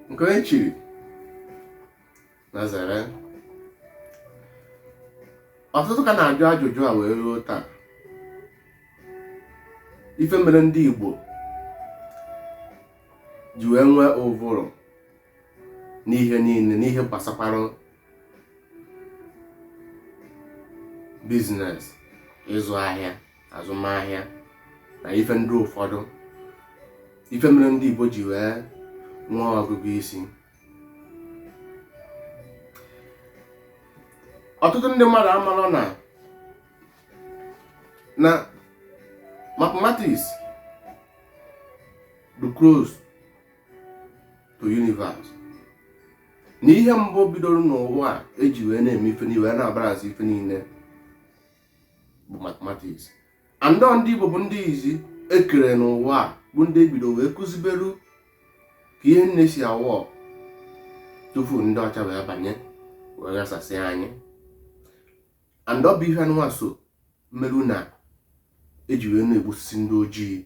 nke onye chiri nya zere ọtụtụ ka na-ajụ ajụjụ a wee ruo taa ife mere ndị Igbo ji wee nwee ụvụrụ n'ihe niile n'ihe gbasakwara business ịzụ ahịa azụmahịa na ife ndị ụfọdụ ife mere ndị Igbo ji wee nwee ọgụgụ isi ọtụtụ ndị mmadụ amarọ na na mathematics dị close to universe na ihe mbụ bidoro n'ụwa a eji wee na-eme ife niile wee na-abarazi ife niile bụ mathematics and ndị Igbo bụ ndị izizi e kere n'ụwa bụ ndị e bido wee kụziberu ka ihe niile si awọ tupu ndị ọcha wee banye wee ghasasị anyị and ọ bụ ihe anụnwa so merụ na eji wee na-egbusisi ndị ojii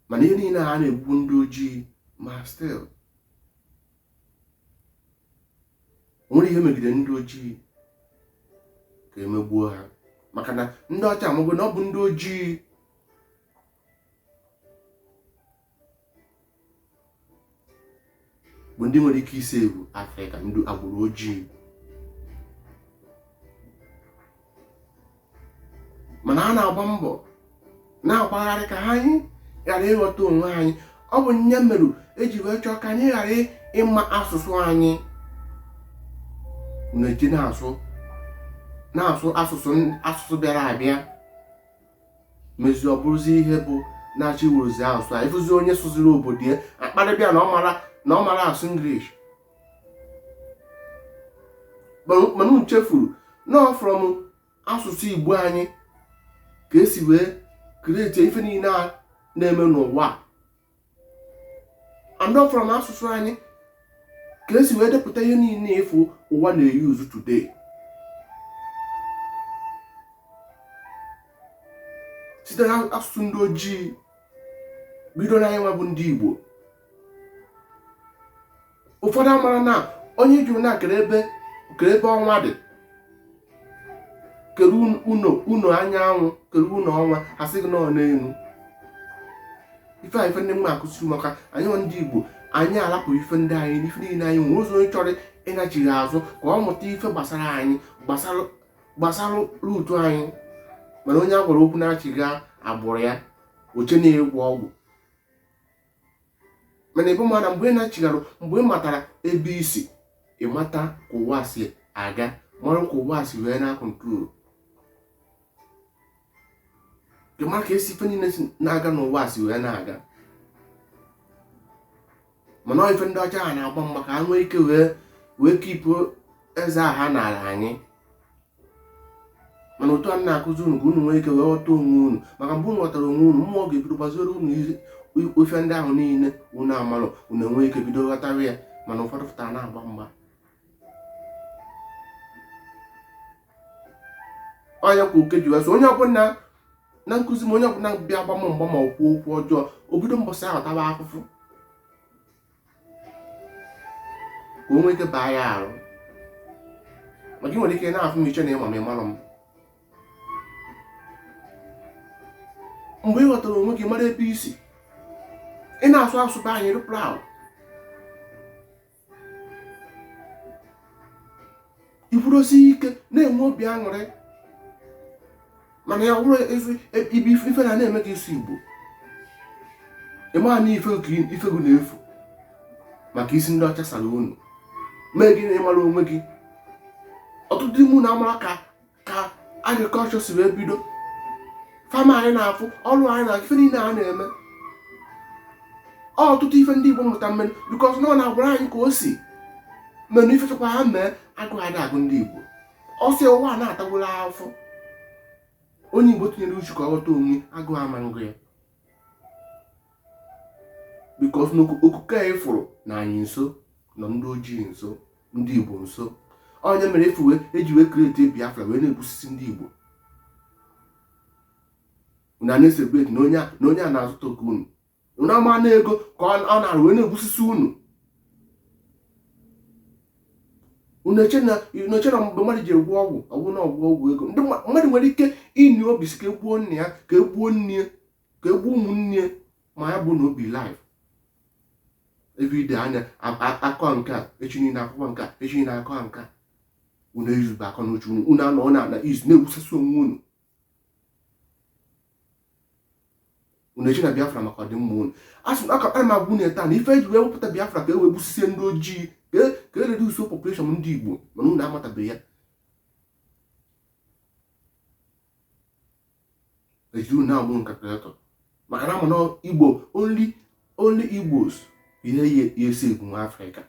mana ihe niile a na-egbu ndị ojii ma still nwere ihe megide ndị ojii ka e megbuo ha maka na ndị ọcha amagbo na ọ bụ ndị ojii bụ ndị nwere ike isi wụ afrịka ndị agbụrụ ojii mana a na-agba mbọ na-agbagharị ka ha anyị ghara ịghọta onwe anyị ọ bụ nya merụ eji wee chọọ ka anyị ghara ịma asụsụ anyị na-eji na-asụ na-asụ asụsụ bịara abịa mezi ọ bụrụzi ihe bụ na-achị wuruzi asụsụ a ị fụzi onye sụziri obodo ya a kparịba ya na ọ marọ asụ English mana chefuru na from asụsụ igbo anyị ka e si wee create ife niile a na-eme n'ụwa and from asụsụ anyị ka e si wee depụta ihe niile ị fụ ụwa na-use today site na asụsụ ndị ojii bido na anyị nwa bụ ndị igbo ụfọdụ amarọ na onye jụrụ na kere ebe kere ebe ọnwa dị kere ụnọ ụnọ anyanwụ kere ụnọ ọnwa ha sị gị na ọ n'elu ife a ife ndị mma akụziri maka anyị ndị igbo anyị alapụ ife ndị anyị n'ife niile anyị nwere ụzọ onye chọrọ ịnachigha azụ ka ọ mụta ife gbasara anyị gbasara root anyị mana onye a gwara okwu nachigha agbụrụ ya o che na-agwọ ọgwụ mana ebe mana mgbe ị na-achịgharụ mgbe ị matara ebe i si ị mata ka ụwa si aga mara ka ụwa si wee na-akọntrol ị mara ka esi ife niile na-aga n'ụwa si wee na-aga mana ife ndị ọcha ha na-agba mgba ka ha nwee ike wee kipụ eze ha n'ala anyị mana otu a na-akụzi unu ka unu nwee ike wee ghọta onwe unu maka mgbe unu ghọtara onwe unu mmụọ ga-ebido gbaziere unu ife ndị ahụ niile unu amalụ unu enwee ike bido ghọtara ya mana ụfọdụ pụtara na-agba mgba onye kwa oke ji wee onye ọbụla na nkụzi m onye ọbụla bịa gba m mgba ma okwu okwu ọjọọ o bido mbọsị ahụ taba afụfụ ka o nwee ike baa ya arụ maka ị nwere ike na-afụ m i chee na ị ma m ị malụ m mgbe ị ghọtara onwe gị mara ebe i si ị na-asụ asụsụ be anyị rụpụrụ ahụ ikwudosi ike na-enwe obi aṅụrị mana ya bụrụ ife na-eme gị isi igbo ị ma na ife gị na-efu maka isi ndị ọcha sara unu mee gị na ị marọ onwe gị ọtụtụ ime unu amarọ ka agrikọlchọ si wee bido fama anyị na-afụ ọrụ anyị na ife niile a na-eme ọtụtụ ife ndị Igbo mụta mmenụ bikọs na ọ na-agwara anyị ka o si menụ ife chekwa ha mee agụụ ada agụ ndị Igbo ọ sị ụwa na-atagwụla afọ onye Igbo tinyere uchu ka ọ ghọta onwe ya agụụ ama ngụ ya bikos na okike anyị fụrụ na anyị nso nọ ndị ojii nso ndị igbo nso onye mere efu eji wee kreti biafra wee na-egbusisi ndị igbo unu na-esebreti na onye a na-azọta oke unu unu ama na ego ka ọ na-arụ wee na-egbusisi unu unu eche na mgbe mmadụ ji agwọ ọgwụ ọ bụ na ọ bụ ọgwụ ego ndị mmadụ nwere ike inwe obi sị ka e gbuo nna ya ka e gbuo nne ya ka e gbuo ụmụnne ma ya bụ na ọ bịa live everyday a na-akọ nke a echi niile akụkọ nke a echi niile akọ nke a unu eyuzube akọ n'uche unu unu anọ na ana izu na-egbusasị onwe unu unu eche na biafra maka ọdịmma unu asị na akakpara m agwa unu taa na ife eji wee wepụta biafra ka e wee gbusisie ndị ojii ka e reduso population ndị igbo mana unu amatabeghị ya ejiri unu na-amụ nka kalkụletọ maka na amana igbo only only igbos ihe ya esi egwu nwa afrịka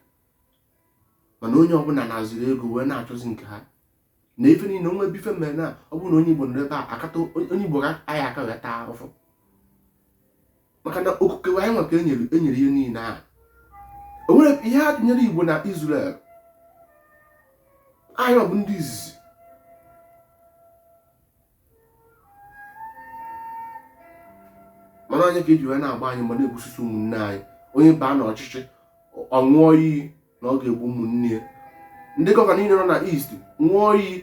mana onye ọbụla na-azụrụ ego wee na-achọzi nke ha na ife niile ọ bụ ife mere na ọ bụrụ na onye igbo nọ ebe a akata onye igbo ga aya aka wee taa ahụhụ maka na okike anyị nwa ka e nyere e nyere ihe niile ahụ o nwere ihe a tụnyere Igbo na Israel anyị bụ ndị izizi mana onye ka e ji wee na-agba anyị ma na-egbusisi ụmụnne anyị onye baa n'ọchịchị ọ ṅụọ iyi na ọ ga-egbu ụmụnne ya ndị gọvanọ niile nọ na East ṅụọ iyi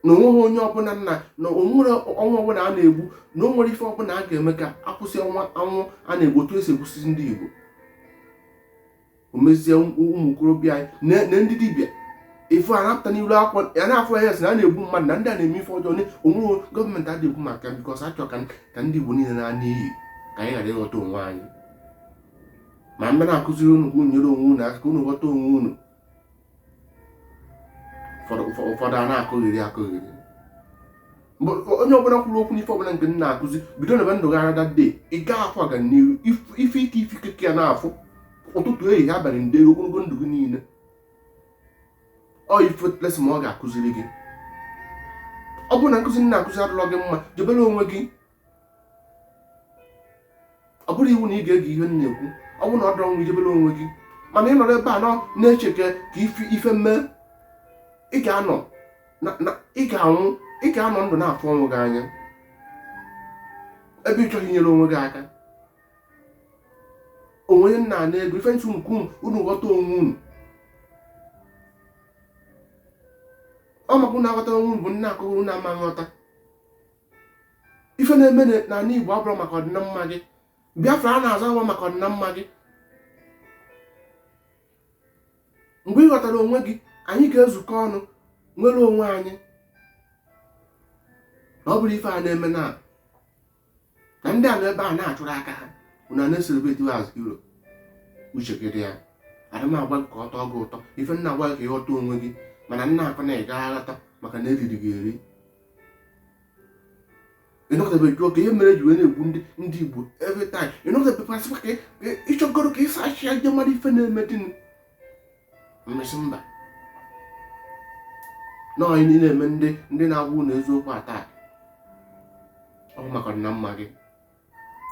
na o nweghị onye ọbụla nna na o nwerọ nwa ọbụla a na-egbu na o nwerọ ife ọbụla a ga-eme ka a kwụsị ọnwa anwụ a na-egbu otu esi egbusisi ndị Igbo o mezie ụmụ okorobịa anyị na ndị dibịa ife a na-apụta n'iru akwụkwọ ya na-afụ ya sị na a na-egbu mmadụ na ndị a na-eme ife ọjọọ onweghị gọọmenti adịghị ekwu maka because a chọ ka ndị Igbo niile naa n'iyi ka anyị ghara ịghọta onwe anyị ma m bịa na-akụziri unu ka unu nyere onwe unu aka unu ghọta onwe unu ụfọdụ a na-akọgheri akọgheri onye ọbụla kwuru okwu n'ife ọbụla nke m na-akụzi bido na ebe ndụ gị arada de ị gaa afụ ọganiru ife ike ife ike ka ị ya na-afụ ụtụtụ ehihie abalị ndeeri ogologo ndụ gị niile ọ ife lesị ma ọ ga-akụziri gị ọ bụrụ na nkụzi m na-akụzi adịrọ gị mma jebere onwe gị ọ bụrọ iwu na ị ga-ege ihe m na-ekwu ọ bụrụ na ọ dịrọ mma i jebere onwe gị mana ị nọrọ ebe a na-eche ka ife mee ị ga-anọ ị ga-anwụ ị ga-anọ ndụ na-afụ onwe gị anya ebe ị chọghị inyere onwe gị aka onwe onye nna na ego ife m sị ka unu ghọta onwe unu ọ maka unu aghọta onwe unu bụ m na-akọ unu ama aghọta ife na-eme na ala Igbo abụrọ maka ọdịnamma gị Biafra a na-azọ bụ maka ọdịnamma gị mgbe ị ghọtara onwe gị anyị ga-ezukọ ọnụ nwere onwe anyị na ọ bụrọ ife a na-eme na na ndị a nọ ebe a na-achụrụ aka ha unu a na-ecelebrate as hero uche gị dị ya adị m agwa gị ka ọ tọọ gị ụtọ ife m na-agwa gị ka ị ghọta onwe gị mana m na-akọ na ị gaghị aghọta maka na e riri gị eri ị nọkatabe jụọ ka ihe mere ji wee na-egbu ndị ndị Igbo every time ị nọkatabe pasịkwa ka ị chọgoro ka esi achị ndị mmadụ ife na-eme dịnụ mmesị mba na onye niile eme ndị ndị na-agwa unu eziokwu ata ọ bụ maka ọdịnamma gị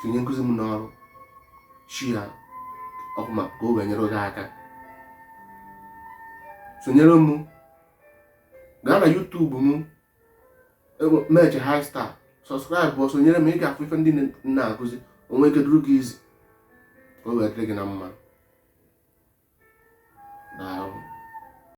tinye nkụzi m n'ọrụ share ya ọ bụ maka ka o wee nyere gị aka sonyere m gaa na YouTube m meche high star subscribe sonyere m ị ga-afụ ife ndị m na-akụzi o nwee ike duru gị izi ka o wee dịrị gị na mma